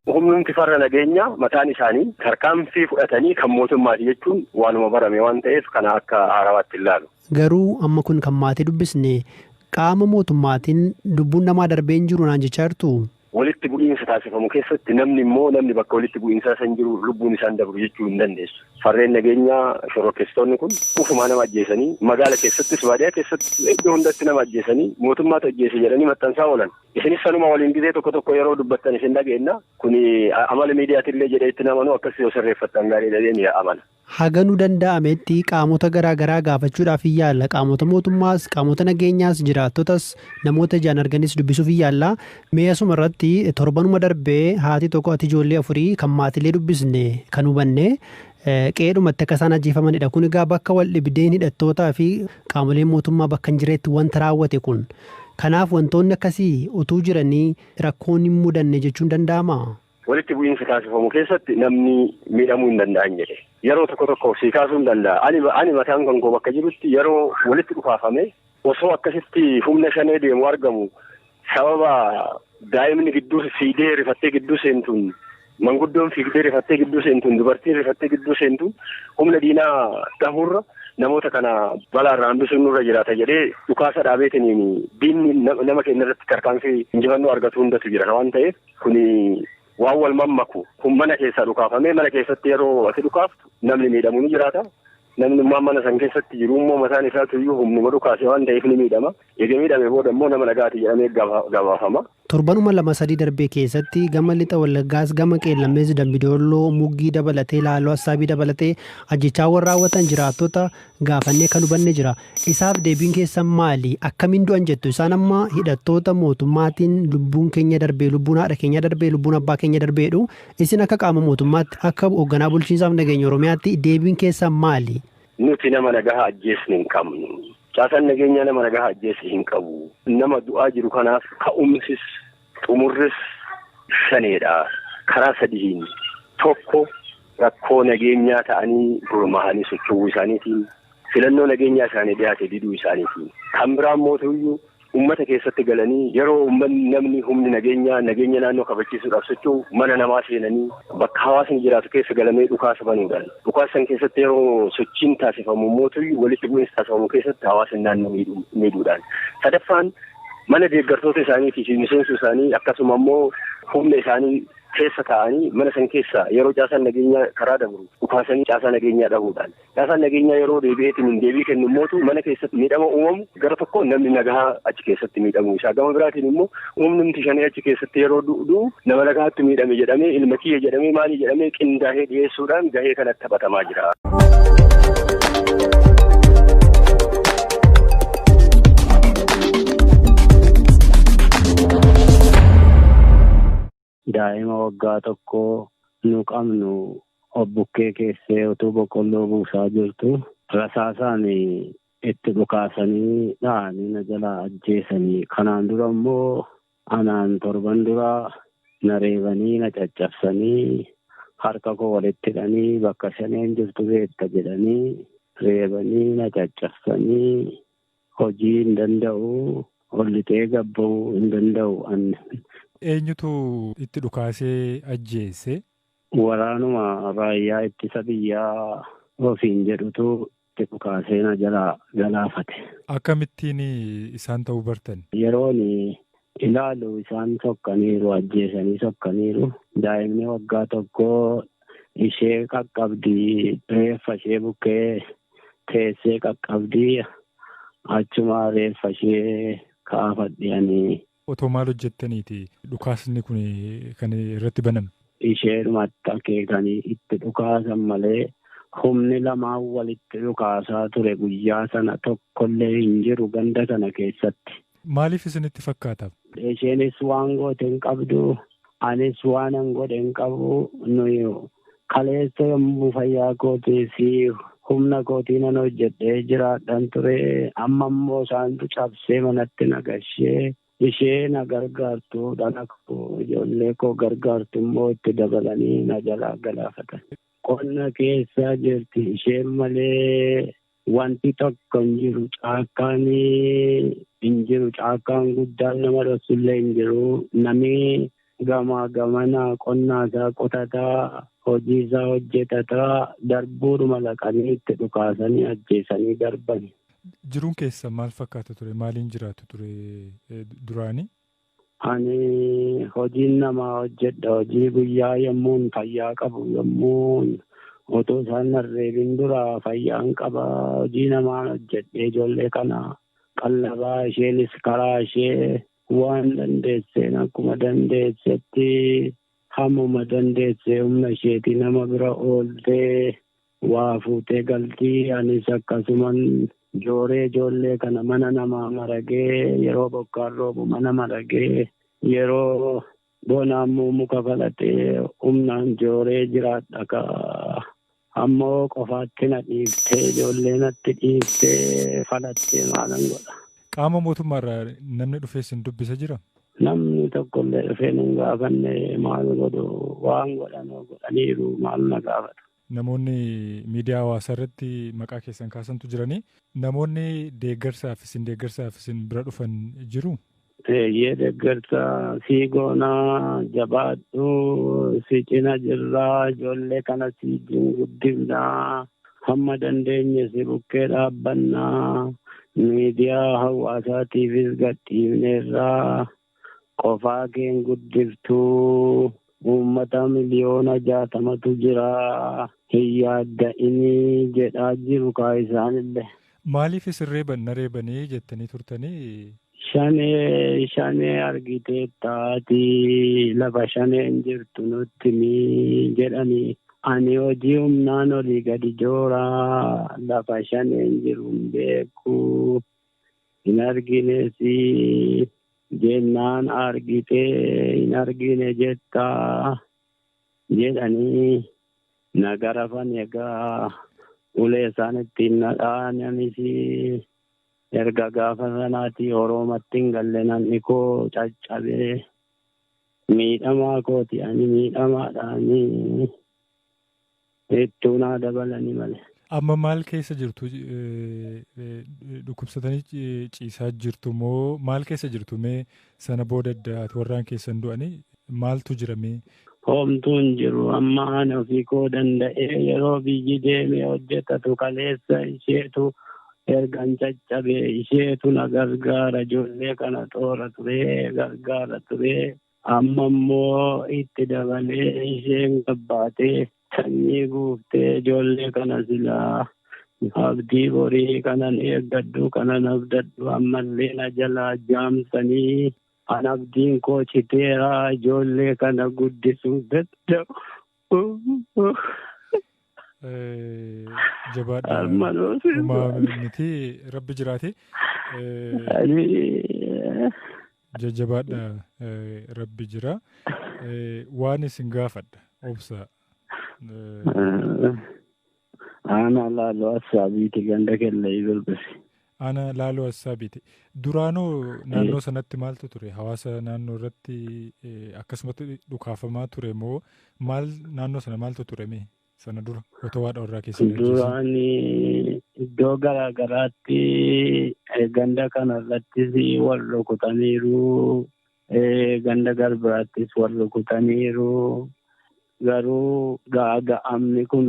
Humnumti farra nageenya mataan isaanii tarkaanfii fudhatanii kan mootummaati jechuun waanuma barame waan ta'eef kana akka haarawaatti hin laalu. Garuu amma kun kan maatii dubbisne qaama mootummaatiin lubbuun namaa darbee hin jiru naan jechaa jirtu. Walitti bu'iinsa taasifamu keessatti namni immoo namni bakka walitti bu'iinsaa san jiru lubbuun isaan dabru jechuu hin dandeessu. Farreen nageenyaa shororkeessitoonni kun ofumaa nama ajjeesanii magaala keessattis baadiyaa keessatti iddoo hundatti nama ajjeesanii mootummaatu ajjeese jedhanii maxxansaa oolan. Isinis sanuma waliin gizee tokko tokko yeroo dubbattan isin dhageenna. Kuni amala miidiyaatillee jedhee itti hin amanu akkas yoo sirreeffattan gaariidha jedheen amana. Haga nu danda'ametti qaamota garaa garaa gaafachuudhaaf hin yaalla. Qaamota mootummaas, qaamota nageenyaas, jiraattotas, namoota ijaan arganis dubbisuuf hin yaalla. Mee asuma irratti torbanuma darbe haati tokko haati ijoollee afurii kan maatilee dubbisne kan hubanne qe'eedhumatti akka isaan ajjeefamanidha. Kun egaa bakka wal dhibdeen hidhattootaa fi qaamoleen mootummaa bakka hin jiretti wanta raawwate kun. Kanaaf wantoonni akkasii utuu jiranii rakkoon hin mudanne jechuun danda'amaa? Walitti bu'iinsa taasifamu keessatti namni miidhamuu hin danda'an jedhe. Yeroo tokko tokko sii kaasuu hin danda'a. Ani ani mataan kan koo bakka jirutti yeroo walitti dhukaafame osoo akkasitti humna shanee deemu argamu sababa daa'imni gidduu fiigdee rifattee gidduu seentuun manguddoon fiigdee rifattee gidduu seentuun dubartiin rifattee gidduu seentuun humna diinaa dhahuurra namoota kana balaarraa hambisuun nurra jiraata jedhee dhukaasa dhaabeetiniin diinni nama keenya irratti tarkaanfii injifannoo argatu hundatu jira waan ta'eef Kuni waan wal mammaku. Kun mana keessaa dhukaafamee mana keessatti yeroo ati dhukaaftu namni miidhamu ni jiraata. Namnummaan mana san keessatti jiru immoo mataan isaatu iyyuu humnuma dhukaase waan ta'eef ni miidhama. Eega miidhame booda immoo nama nagaati jedhamee gabaafama. Torbanuma lama sadii darbe keessatti gama lixa Wallaggaas gama Qeellammees Dambi Doolloo, Muggii dabalatee Laaloo Assaabii dabalatee ajjeechaawwan raawwatan jiraattota gaafannee kan hubanne jira. Isaaf deebiin keessan maali? Akkamiin du'an jettu? Isaan amma hidhattoota mootummaatiin lubbuun keenya darbee, lubbuun haadha keenya darbee, lubbuun abbaa keenya darbee jedhu. Isin akka qaama mootummaatti, akka hoogganaa bulchiinsaaf nageenya Oromiyaatti deebiin keessan maali? Nuti nama nagahaa ajjeesne hin qabnu. Caasaan nageenyaa nama nagahaa ajjeese hin qabu. Nama du'aa jiru kanaaf ka'umsis Xumurris Shaneedha karaa sadihiin, tokko rakkoo nageenyaa ta'anii gurmaahanii socho'uu isaaniitiin, filannoo nageenyaa isaanii dhiyaate diduu isaaniitiin, kan biraa immoo tuuyyu ummata keessatti galanii yeroo ummanni namni humni nageenyaa nageenya naannoo kabachiisuudhaaf socho'u mana namaa seenanii bakka hawaasni jiraatu keessa galamee dhukaasa banuudhaan dhukaasa san keessatti yeroo sochiin taasifamu immoo tuuyyu walitti bu'iinsa taasifamu keessatti hawaasni naannoo miidhuudhaan sadaffaan mana deeggartoota isaaniitii fi miseensa isaanii akkasuma immoo humna isaanii keessa taa'anii mana san keessa yeroo caasaan nageenyaa karaa dabru dhukaasanii caasaa nageenyaa dhahuudhaan caasaan nageenyaa yeroo deebi'eetiin hin deebii kennu mootu mana keessatti miidhama uumamu gara tokko namni nagahaa achi keessatti miidhamu isaa gama biraatiin immoo humni miti shanee achi keessatti yeroo du'u nama nagahaatti miidhame jedhamee ilma kiyya jedhamee maalii jedhamee qindaa'ee dhiyeessuudhaan gahee kanatti taphatamaa jira. Daa'ima waggaa tokko nu qabnu obbukkee keessee utuu boqqolloo buusaa jirtu rasaasaan itti dhukaasanii dha'anii na jalaa ajjeesanii kanaan dura immoo Anaan torban dura na reebanii na caccabsanii harka koo walitti hidhanii bakka shaneen jirtu beekta jedhanii reebanii na caccabsanii hojii hin danda'u ol lixee gad ba'uu hin danda'u an. Eenyutu itti dhukaasee ajjeese? Waraanuma raayyaa ittisa biyyaa ofiin jedhutu itti dhukaasee na jalaa galaafate. Akkamittiin isaan ta'uu bartan? Yeroon ilaalu isaan sokkaniiru, ajjeesanii sokkaniiru. Daa'imni waggaa tokkoo ishee qaqqabdi, reeffa ishee bukkee teessee qaqqabdi. Achuma reeffa ishee kaafadhe ani Otoo maal hojjettaniiti dhukaasni kun kan irratti baname? Isheedhumatti akeekanii itti dhukaasan malee humni lamaan walitti dhukaasaa ture guyyaa sana tokkollee hin jiru ganda sana keessatti. Maaliif isinitti fakkaata? Isheenis waan goote hin qabdu, anis waanan godhe hin qabu, nuyi Kaleessa yommuu fayyaa kootii fi humna kootii nan hojjedhee jiraadhan ture, amma immoo isaantu cabsee manatti na gashee, ishee na gargaartu, dhala koo, ijoollee koo gargaartu immoo itti dabalanii na jalaa galaafatan. Qonna keessa jirti, isheen malee Wanti tokko hin jiru caakkaan hin jiru caakkaan guddaan nama dhoksullee hin jiru namni gamaa gamana qonnaa isaa qotataa hojii isaa hojjetataa darbuudhuma laqanii itti dhukaasanii ajjeesanii darbani. Jiruun keessa maal fakkaata ture maaliin jiraatu ture duraanii? Ani hojiin namaa hojjedha. Hojii guyyaa yommuun fayyaa qabu yommuun otoo isaan narreebin dura fayyaan qaba. Hojii namaan hojjedhee ijoollee kana qallabaa isheenis karaa ishee waan dandeesseen akkuma dandeessetti hammuma dandeessee humna isheetii nama bira ooltee Waa fuutee galtii anis akkasuman jooree ijoollee kana mana namaa maragee yeroo bokkaan roobu mana maragee yeroo bonaa immoo muka falaxee humnaan jooree jiraadha ka ammoo qofaatti na dhiiftee ijoollee natti dhiiftee falaxee maalan godha. Qaama mootummaarraa namni dhufee sin dubbisa jira? Namni tokkollee dhufee nun gaafanne maal godhu waan godhan godhaniiru maal na gaafatu. Namoonni miidiyaa hawaasaa irratti maqaa keessan kaasantu jiranii. Namoonni deeggarsaaf isin deeggarsaaf isin bira dhufan jiru? Eeyyee deeggarsa sii goonaa jabaadhu si cina jirraa ijoollee kana si wajjin guddifnaa hamma dandeenye si bukkee dhaabbannaa miidiyaa hawaasaatiifis gadhiifneerraa qofaa keen guddiftu uummata miliyoona jaatamatu jira hin yaadda'inii jedhaa jiru kaa isaanillee. Maaliif isin reeban na reebanii jettanii turtanii? Shanee shanee argiteetta ati lafa shaneen jirtu nutti himii jedhanii ani hojii humnaan olii gadi jooraa lafa shaneen jiru hin beeku hin arginesi jennaan argite hin argine jetta jedhanii na garafan egaa ulee isaanitti hin nadhaananis erga gaafa sanaati oroomatti hin galle namni koo caccabee miidhamaa kooti ani miidhamaadhaanii. Ittuu naa dabalani male. Amma maal keessa jirtu dhukkubsatanii ciisaa jirtu moo maal keessa jirtu mee sana booda adda ati warraan keessan du'anii maaltu jira mee? Homtuu hin jiru amma ani ofii koo danda'ee yeroo biyyi deemee hojjetatu kaleessa isheetu ergan caccabe isheetu na gargaara ijoollee kana xoora turee gargaara turee. Amma immoo itti dabalee isheen gabbaatee sanyii guuftee ijoollee kana silaa abdii borii kanan eeggadhu kanan abdadhu ammallee na jalaa jaamsanii an abdiin koo citeera ijoollee kana guddisuu danda'u. Eh, Jabaadha. Armaan hoosee. Homaa miti rabbi jiraate. Eh, Ani jajjabaadha eh, rabbi jira Eh, waan isin gaafadha obsa Eh, Aanaa Laaloo Assaabiiti ganda Kellayii Birbisi. Aanaa Laaloo Assaabiiti. Duraanoo naannoo sanatti maaltu ture? Hawaasa naannoo irratti akkasumatti dhukaafamaa ture moo maal naannoo sana maaltu ture mee? Sana dura otoo waa dhorraa keessa hin Duraan iddoo garaa garaatti ganda kana irrattis wal rukutaniiru. Ganda Garbiraattis wal rukutaniiru. Garuu gaaga'amni kun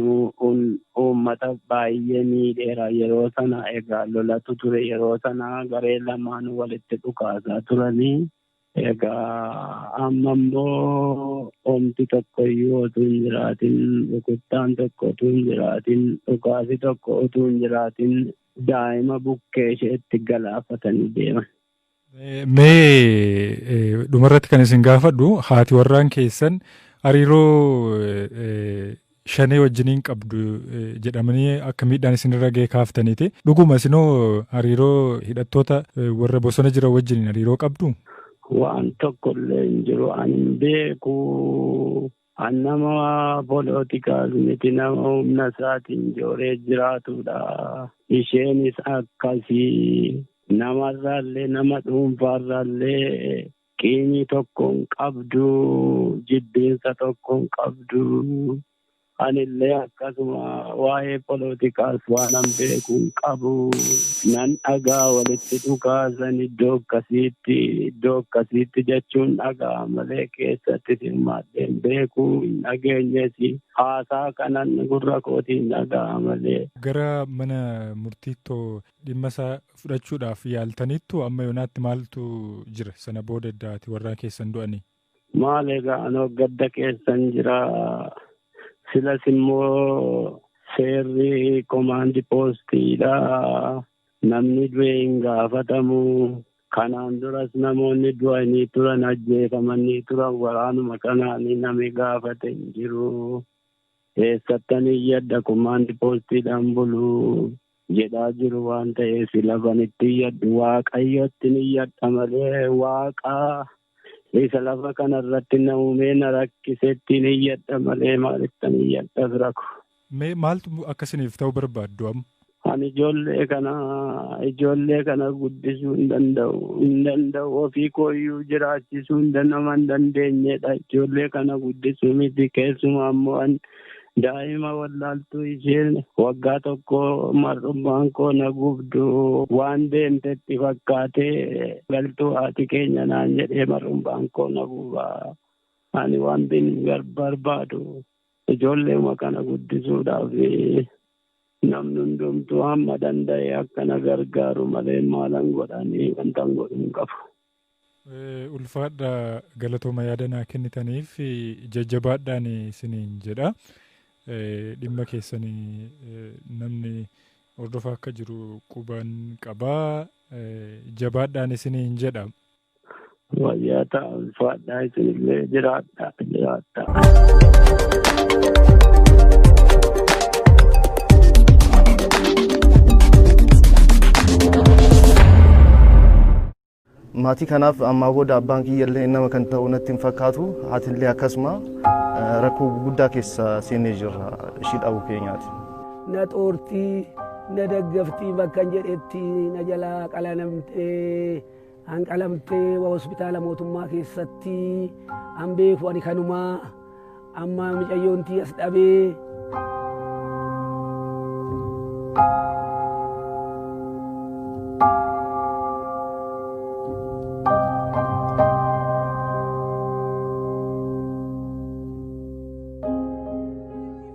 uummata baay'ee miidheera. Yeroo sana egaa lolatu ture. Yeroo sana garee lamaan walitti dhukaasaa turanii. Egaa amma immoo omti tokko iyyuu otuu hin jiraatin rukuttaan tokko otuu hin jiraatin dhukaasi tokko otuu hin jiraatin daa'ima bukkee isheetti galaafatanii deeman. Mee dhumarratti kan isin gaafadhu haati warraan keessan hariiroo shanee wajjiniin qabdu jedhamanii akka miidhaan isinirra ga'e kaaftaniiti. Dhuguma isinoo hariiroo hidhattoota warra bosona jiran wajjiniin hariiroo qabdu? Waan tokkollee hin jiru ani hin beeku. An nama polootikaas miti nama humna isaatiin jooree jiraatudha. Isheenis akkasii namarraallee nama dhuunfaarraallee qiimii tokko hin qabdu, jibbiinsa tokko hin qabdu. Anillee Akkasuma waa'ee polootikaas waanan beeku hin qabu. Nan dhagaa walitti dhukaasan iddoo akkasiitti iddoo akkasiitti jechuun dhagaa malee keessatti hirmaadhee hin beeku hin dhageenyes haasaa kanan gurra kootiin dhagaa malee. Gara mana murtiittoo dhimma isaa fudhachuudhaaf yaaltaniittu amma yoonaatti maaltu jira sana booda edda ati warraan keessan du'anii? Maal egaa anoo gadda keessan jira. Silas immoo seerri komaandi poostiidha. Namni du'e hin gaafatamu. Kanaan duras namoonni du'anii turan ajjeefamanii turan waraanuma kanaan namni gaafate hin jiru. Eessattan iyyadha komaandi poostiidhaan bulu jedhaa jiru waan ta'eef lafan itti iyyadhu waaqayyotti iyyadha malee waaqa isa lafa kana irratti na uumee na rakkisettiin iyyadha malee maalittan iyyadha fira koo. Mee maaltu akka isiniif ta'u barbaaddu amma? Ani ijoollee kana ijoollee kana guddisuu hin danda'u hin danda'u ofii kooyyuu jiraachisuu hin danda'u hin dandeenyedha ijoollee kana guddisuu miti keessumaa immoo Daa'ima wallaaltuu isheen waggaa tokko mar'ummaan koo na gubdu waan deemtetti fakkaatee galtuu haati keenya naan jedhee mar'ummaan koo na guba. Ani waan bin barbaadu ijoolleema kana guddisuudhaaf namni hundumtuu hamma danda'e akka na gargaaru malee maalan godhanii wanta godhu hin qabu. Ulfaadha galatooma yaada naa kennitaniif jajjabaadhaan isiniin jedha. Dhimma keessan namni hordofaa akka jiru quban qaba. Jabaadhaan isiniin jedha. Wayyaa ta'a ulfaadhaa isinillee jiraadhaa jiraadhaa. maatii kanaaf ammaa booda abbaan kiyyallee nama kan ta'u natti hin fakkaatu haatillee akkasuma eh, rakkoo guddaa keessa seenee jirra ishii dhabuu keenyaati. na xoortii na daggaftii bakkan jedhetti na jalaa qalanamtee An qalamtee wa hospitaala mootummaa keessatti an beeku ani kanumaa amma micayyoontii as dhabee.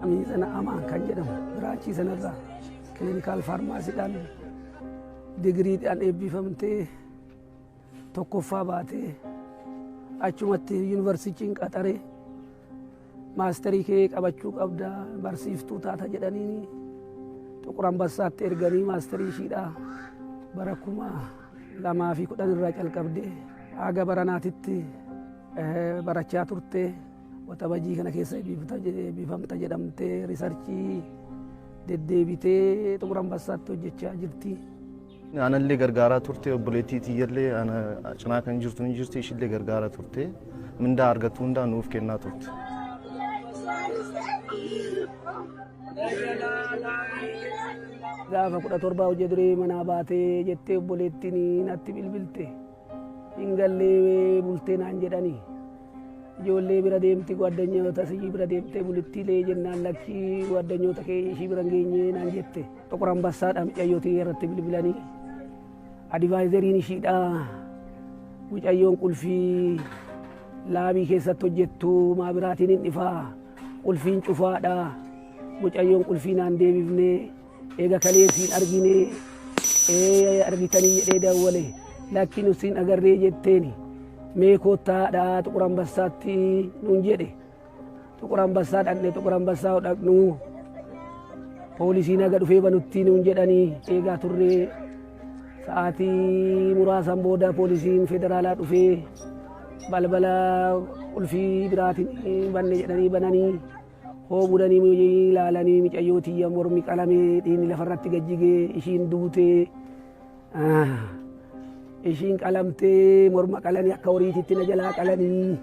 Miizana Amaan kan jedhamu biraachii sanarraa kilinikaal faarmaasiidhaan Digiriidhaan eebbifamtee tokkoffaa baatee achumatti yuunivarsiitiin qaxare maasterii kee qabachuu qabda barsiiftuu taata jedhanii Xuqur Ambassaatti erganii maasterii ishiidha bara kuma lamaa fi kudhan irraa calqabde haga baranaatitti barachaa turte. Waxabajii kana keessa eebbifamta jedhamtee riisarchii deddeebitee xumura ambassaatti hojjechaa jirti. Anallee gargaaraa turte obboleettii tiyyallee ana cinaa kan jirtu ni jirti ishillee gargaaraa turte mindaa argattu hundaa nuuf kennaa turte. Gaafa kudha torbaa hojii duree manaa baatee jettee obboleettiin natti bilbilte. Hin gallee bultee naan jedhani. Ijoollee bira deemti guaddanyoota siyyi bira deemtee bulittiilee jennaan lakkii guaddanyoota kee ishii bira hin geenye naan jette. Xuqur Ambassaadha mucayyootii irratti bilbilanii. Adivaayizeriin ishiidha. Mucayyoon qulfii laabii keessatti hojjettu maa biraatiin hin dhifaa. Qulfiin cufaadha. Mucayyoon qulfii naan deebifnee. Eega kalee siin arginee ee argitanii jedhee dawwale lakki nu siin agarree jetteeni mee koottaadhaa xuqur ambassaatti nuun jedhe xuqur ambassaa dhaqne xuqur ambassaa yoo dhaqnu poolisiin haga dhufee banutti nuun jedhanii eegaa turree sa'aatii muraasan booda poolisiin federaalaa dhufee balbala qulfii biraatiin banne jedhanii bananii Hoo bulanii muyii ilaalanii micayyoo tiyya mormi qalamee dhiini lafarratti gajjigee ishiin duutee. Ah. Ishiin qalamtee morma qalanii akka horiititti na jalaa qalanii.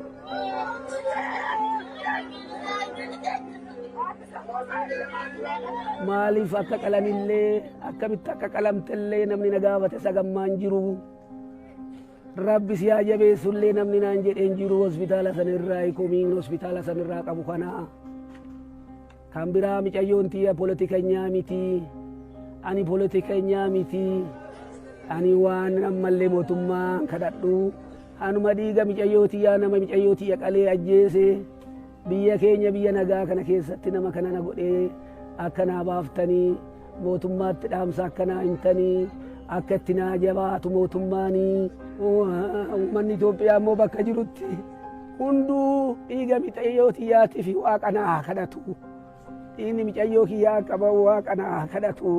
Maaliif akka qalanillee akkamitti akka qalamtellee namni na gaafate sagammaan jiru. Rabbi si haa jabeessu illee namni naan jedhee hin jiru hospitaala san irraa komiin hospitaala san irraa qabu kana. Kan biraa micayyoon tiyya politikanyaa miti. Ani politikanyaa miti. Ani waan ammallee mootummaa kadhadhu. Anuma dhiiga micayyoo tiyyaa nama micayyoo tiyya qalee ajjeese Biyya keenya biyya nagaa kana keessatti nama kana na godhee akka naa baaftanii mootummaatti dhaamsa akka naa himtanii akka itti naa jabaatu mootummaanii uummanni Itoophiyaa immoo bakka jirutti hunduu dhiiga micayyoo tiyyaatii fi waaqa naa kadhatu dhiigni micayyoo kiyyaa akka ba'u waaqa naa kadhatu.